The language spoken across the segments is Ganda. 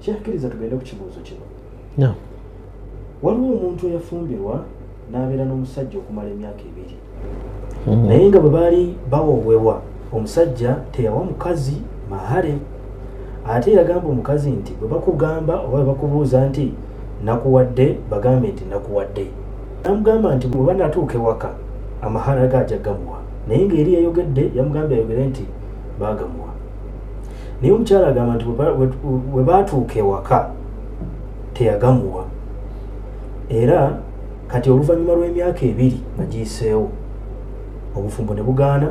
kyekkiriza tugende ku kibuuzo kino waliwo omuntu eyafumbirwa n'abeera n'omusajja okumala emyaka ebiri hmm. naye nga bwe baali bawowebwa omusajja teyawa mukazi mahale ate yagamba omukazi nti bwe bakugamba oba bwe bakubuuza nti nakuwadde bagambe nti nakuwadde namugamba nti bweba natuuka ewaka amahara ge ajja gamuwa naye ng'eri yayogedde yamugambye ayogere nti baagamuwa naye omukyala agamba nti we baatuuka ewaka teyagamuwa era kati oluvannyuma lw'emyaka ebiri nga giyiseewo obufumbo ne bugaana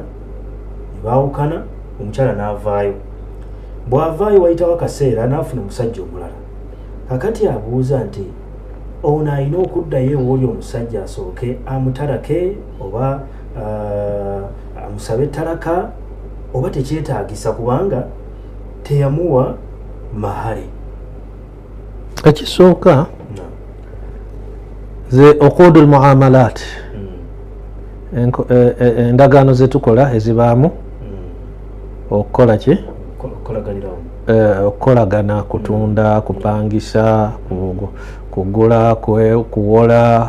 ne baawukana omukyala n'avaayo bw'avaayo wayitawo akaseera n'afuna omusajja omulala kakati abuuza nti ono alina okuddayo ewoli omusajja asooke amutalake oba uh, amusabe talaka oba tekyetagisa kubanga teyamuwa mahare ekisooka ze okudu lmuamalat mm. e, e, endagaano zetukola ezibaamu mm. okukola ki e, okukolagana kutunda mm. kupangisa kugula kuwola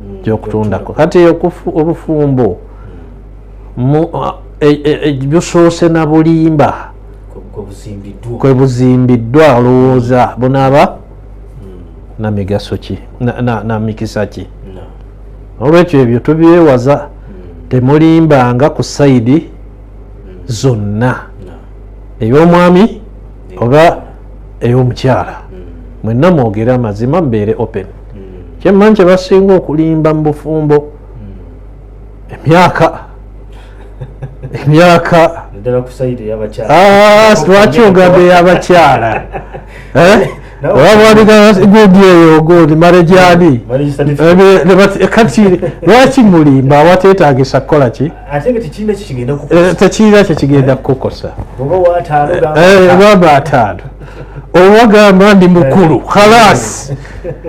mm. gyokutundako kati obufumbo e, e, e, busoose na bulimba kwebuzimbiddwa olowooza bunaaba mm. namigaso ki namikisa ki olwekyo ebyo tubyewaza mm. temulimbanga ku saidi zonna ey'omwami oba ey'omukyala mm. mwenna mwogere amazima mubeere open mm. kyemmanyi kye basinga okulimba mu bufumbo mm. emyaka emyaka lwaki ogambye yabakyala eh? lwaki mulimba awatetagisa kukola ki eh, tekirina kyekigenda kukukosa baba ataano eh, owagamba ndi mukulu eh. khalas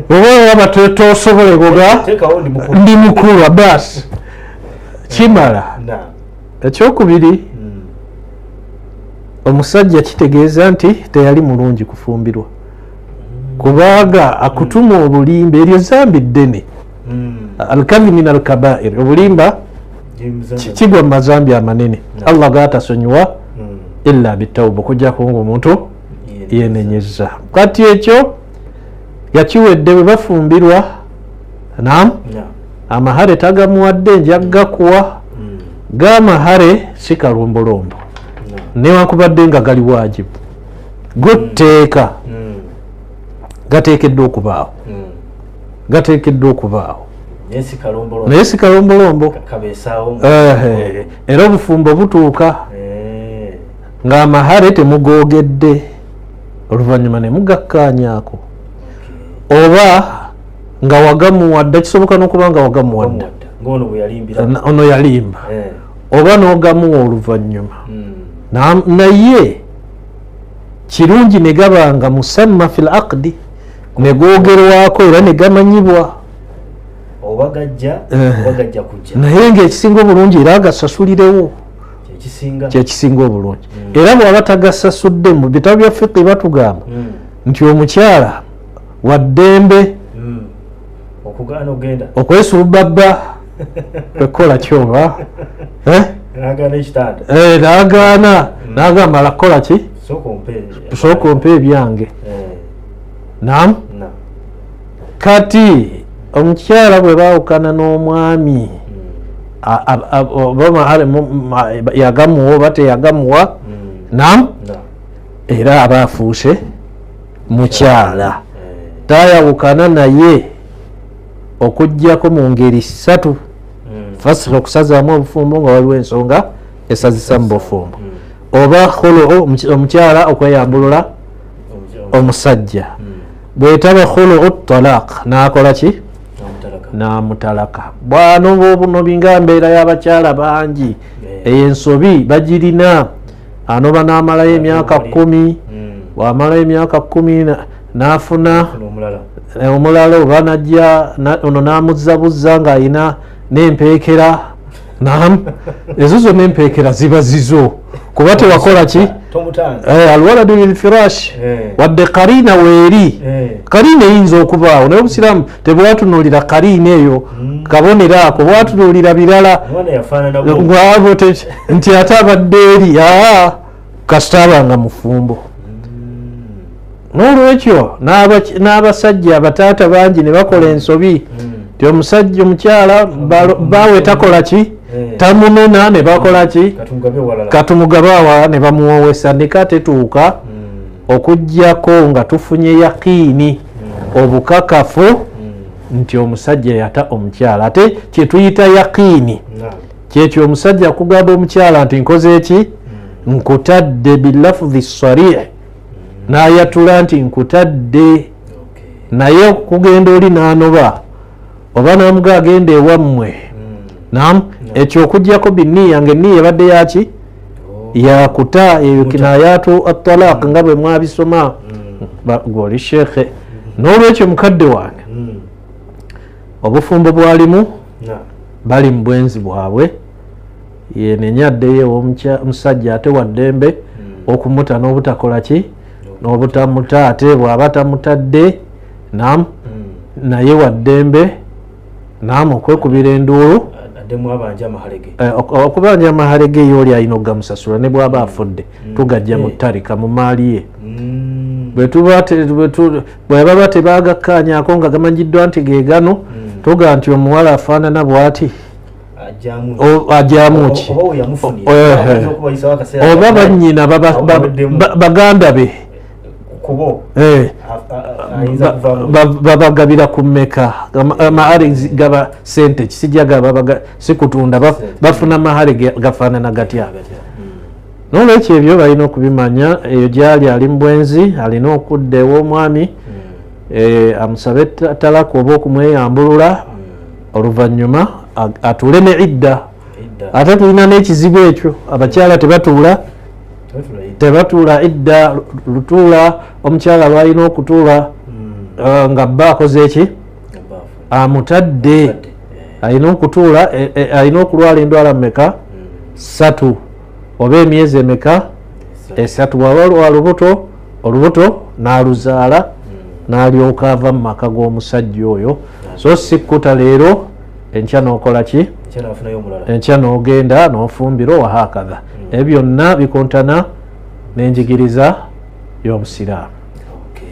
obaaba tosobola goga ndi mukulu abas kimala ekyokubiri hmm. omusajja kitegeeza nti teyali mulungi kufumbirwa hmm. kubanga akutuma hmm. obulimba eryo zambi ddene alkabi min alkabair obulimba kigwa mu mazambi amanene allah gatasonyiwa illa bitauba okujjako nga omuntu yenenyeza kati ekyo yakiwedde bwe bafumbirwa nam amahare tagamuwadde nja gakuwa hmm. gamahare si kalombolombo newankubadde nga gali wajibu gotteeka hmm. gateekeddwa okubaawo hmm. gateekeddwa okubaawo naye si kalombolombo era obufumbo butuuka eh. ng'amahare temugoogedde oluvannyuma ne mugakkaanyaako oba nga wagamuwadda kisoboka n'okuba nga wagamuwadda ono yalimba eh. oba n'ogamuwa oluvannyuma hmm. naye kirungi ne gaba nga musamma fi l aqdi ne googerwako era ne gamanyibwa naye ngaekisinga obulungi era agasasulirewo kyekisinga obulungi hmm. era bwaba tagasasudde mu bitabo bya fiqi batugamba hmm. nti omukyala waddembe hmm. okwesubbabba kwekukola kyoba eh? eh, nagaana hmm. nagamba la kukola ki tusooka ompa ebyange eh. nam kati omukyala bwe bawukana n'omwami hmm. yagamuwa oba teyagamuwa nam era aba afuuse mukyala eh. tayawukana naye okujjako mu ngeri ssatu hmm. fasi okusazaamu obufumbo nga waliwo ensonga esazisa mu bufumbo hmm. oba khuluu omukyala okweyambulula omusajja hmm. bwetaba khuluu talaq nakola ki namutalaka bwano bwobuno binga mbeera y'abakyala bangi eh. eyo ensobi bagirina anoba n'amalayo emyaka kumi hmm. bw'amalayo emyaka kumi n'afuna omulala oba najja ono n'amuzzabuzza ng'alina n'empeekera nam ezo zonna empeekera ziba zizo kuba tewakola ki eh, alwaladu lilfirashi eh. wadde kariina weeri eh. kariina eyinza okubaawo naye obusiraamu tebwatunuulira kariina eyo hmm. kabonero ako bwatunuulira birala nti ate abadde eri aa kasita abanga mufumbo nolwekyo n'abasajja abataata bangi ne bakola ensobi hmm. ti omusajja omukyala bawe takola ki eh. tamunena ne bakola ki katumugabe awala ne bamuwowesa nika tetuuka hmm. okugyako nga tufunye yakiini hmm. obukakafu nti omusajja yata omukyala ate kyetuyita yakiini kyekyo omusajja kugamba omukyala nti nkoze eki hmm. nkutadde bilafudhi sarih hmm. nayatula nti nkutadde naye okugenda oli nanoba oba namuga agenda ewammwe hmm. nam ekyo okujjako biniya nga eniya ebadde yaki oh. yakuta eyo kinayatu atalaq nga bwe mwabisoma gwoli shekhe n'olwekyo mukadde wange obufumbo bwalimu bali mu bwenzi bwabwe yenenya addeyo omusajja ate waddembe hmm. okumuta n'obutakola ki n'obutamuta ate bw'aba tamutadde nam hmm. naye waddembe nam okwekubira enduulu eh, okubanja amahalege yo oli alina okugamusasula ne bw'aba afudde hmm. tugajja mu ttarika mu maali ye bwetuba bwebaba tebagakkaanyako nga gamanyiddwa nti gegano hmm. toga nti omuwala afaanana bwati ajamuki oba banyina baganda be eh. babagabira ku meka amahare gaba sente kisijagaba sikutunda bafuna mahare gafaanana gatya nolwekyo ebyo balina okubimanya eyo gyali ali mubwenzi alina okudda ewomwami hmm. eh, amusabe talaka oba okumweyambulula hmm. oluvanyuma atuule ne idda ate tulina nekizibu ekyo abakyala tebatuula tebatuula idda lutuula omukyala lwalina okutuula hmm. eh, nga bba akoze eki amutadde eh. alina okutuula alina okulwala endwala mumeka satu oba emyezi emeka esatu bwaba lwalubuto olubuto naluzaala hmm. nalyoka ava mu maka g'omusajja oyo so sikkuta leero enkya nokola ki enkya nogenda nofumbira owahakadha hmm. ebyo byonna bikontana nenjigiriza y'obusiraamu